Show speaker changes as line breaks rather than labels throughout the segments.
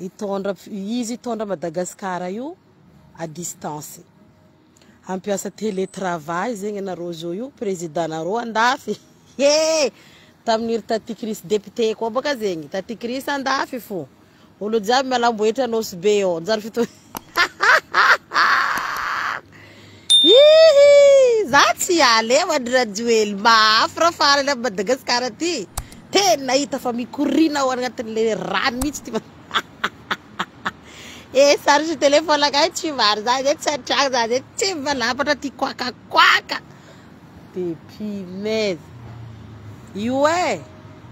Hitondra, izy hitondra Madagascar io à distance. Hampiasa télé travail zegny anareo zo io président nareo andafy ee! Tamin'ny ry Taty Chris député koa bôka zegny, Taty Chris andafy fô. Olo jiaby mialam-bohitra Anosibe ô! Mijaly fiton. Hihi! Za tsy hiala eo an-dry Rajoely, mahaafra farany amin'i Madagascar ty! Tena hita fa mikoriana ao anatin'ilay rano mihitsy ty ma He charge telephone-nakay tsy mivary za zay tsy an-tragno za zay tsy mivalampatra ty koakakoaka. Depuis Mey io e!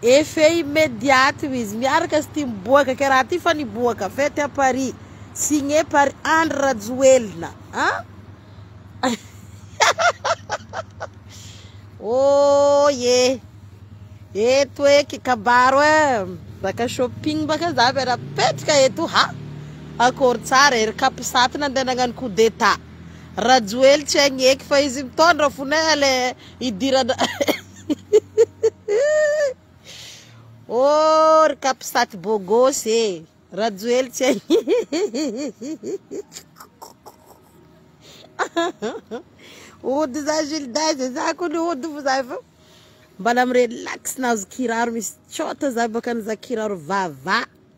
Effet immédiat io izy, miaraka sy ty miboaka kay raha ty fa niboaka fety à Paris, signé par Andry Rajoelina an! Ooyy e! Eto eky kabaro e! Zaka shopping ba kay za miara-mipetraka eto ha! Akory tsara e! Ry Capsat nandeha nagnano coup d'état. Rajoely tsy haigny eky fa izy mitondra fona eh le hidirana oh ry capsat bogos eh Rajoely tsy haigny Ody za Gilda ze za ko ny ody fo za fa mbala mi relax nahazo kiraro misy cot za baka nizaha kiraro vava.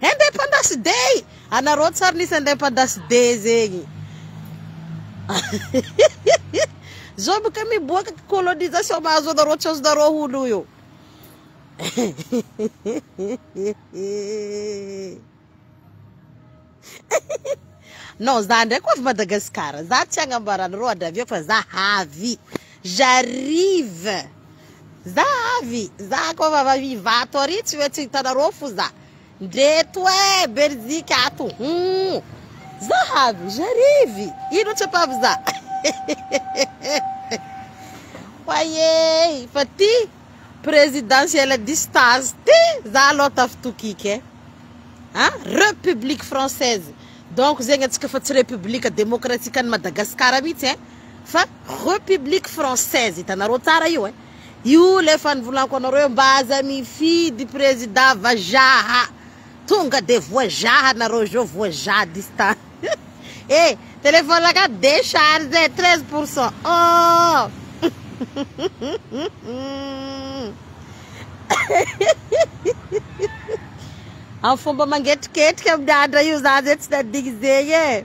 Independence day! Anareo tsar nisy independence day zegny Zao boka miboaka colonisation mahazo anareo tsy azonareo hono io Non za ndraiky ho avy Madagascar za tsy agnambara anareo adravio fa za havy J'arrive za avy za ko avy avy ivato ary tsy hoe tsy hitanareo fo za ndreto e belzika ato humm za avy j'arrive ino tsy ampavy za wayey fa ty presidentiel à distance ty za aloha tafitokiko e a republique française donc zegny atsika fa tsy republique demokratikan'i Madagascar mitsy e. Fa Republique française hitanareo tsara io eh! Io le efa nivolako anareo hoe mba aza mifidy président vazaha! Tonga de voazaha anareo zao voazaha distant eh! Téléphone ka décharge treize pour cent oh! Am fomba mangetriketrika miandra io za zay tsy nadigny zegny eh!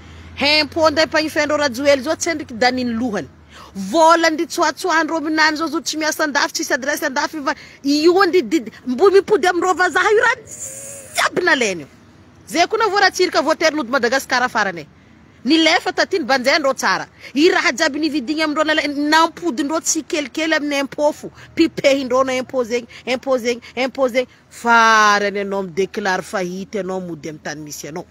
Hein po ndray mpagnifeha andreo Rajoely zao tsy andriky Dany ny lohany. Vola ndry tsoatsoa ndreo minany zao zo tsy miasa andafy tsisy adresse andafy io fa io ndry did mbo mipody amindreo vazaha io raha jiaby nalainy io. Zay ko navoa Ratsirika voatery nody Madagascar farany e. Nilefa taty ny banjay ndreo tsara. I raha jiaby nividigny amindreo nalainy nampody ndreo tsikelikely aminy impot fo pipehy ndreo no impot zegny impot zegny impot zegny farany anao mi declare fahity anao mody amy tany misy anao.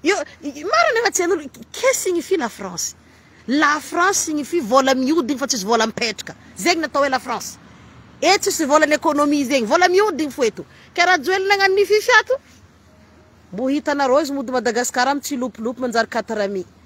Io marina efa tsy hain'olo Qu'est signifie la France? La France signifie vola mihodigny fa tsisy vola mipetraka. Zegny ny atao hoe la France. Eto tsisy volan'ny economie zegny. Vola mihodigny fo eto. Kay Rajoelina agnano ny fifi ato? Mbo hitanareo izy mody Madagascar am tsilopilopy manjary quatre amis.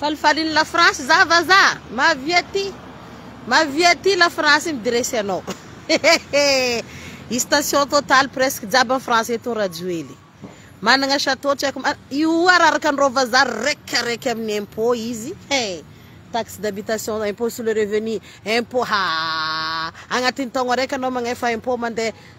Falifalin'i la France za vazaha mavia ty mavia ty la France midresy anao station total presque jiaby en France eto Rajoely managna chateau tsy haiko io araraka an'ireo vazaha raiky raiky amin'ny impôt izy he taxe d'habitation impôt sur le revenu impôt haa agnatin'ny taogno araiky anao magnefa impôt mandeha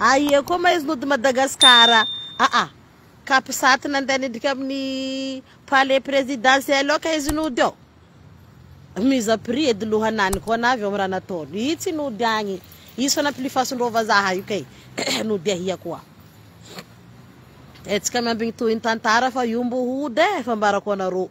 Aia koa ma izy nody Madagascar a? Aa cap sat nandeha nidrika amin'ny palais presidentiel ao ka izy nody ao? Mise à prix edy lohanany koa anavy ao amin'ny raha nataony. Ii tsy nody agny. Izy fa nampilifasin-dreo vazaha io kay. Nody ahia koa. Hetsika miambigny tohin'ny tantara fa io mbo hody e, fambarako anareo.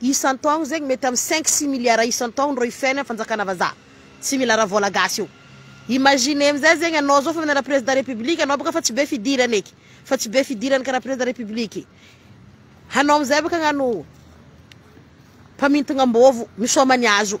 Isan-taogno zegny mety am cinq six milliards isan-taogno rô ifiainan'ny fanjakana vazaha. Tsy mila raha vôla gasy io. Imaginez amizay zegny anao zao fa mianara président république anao bôka fa tsy be fidirany eky, fa tsy be fidirany karaha président république. Hanao amizay bôka agnano mpamintigna ambôvo misaoma ny azo.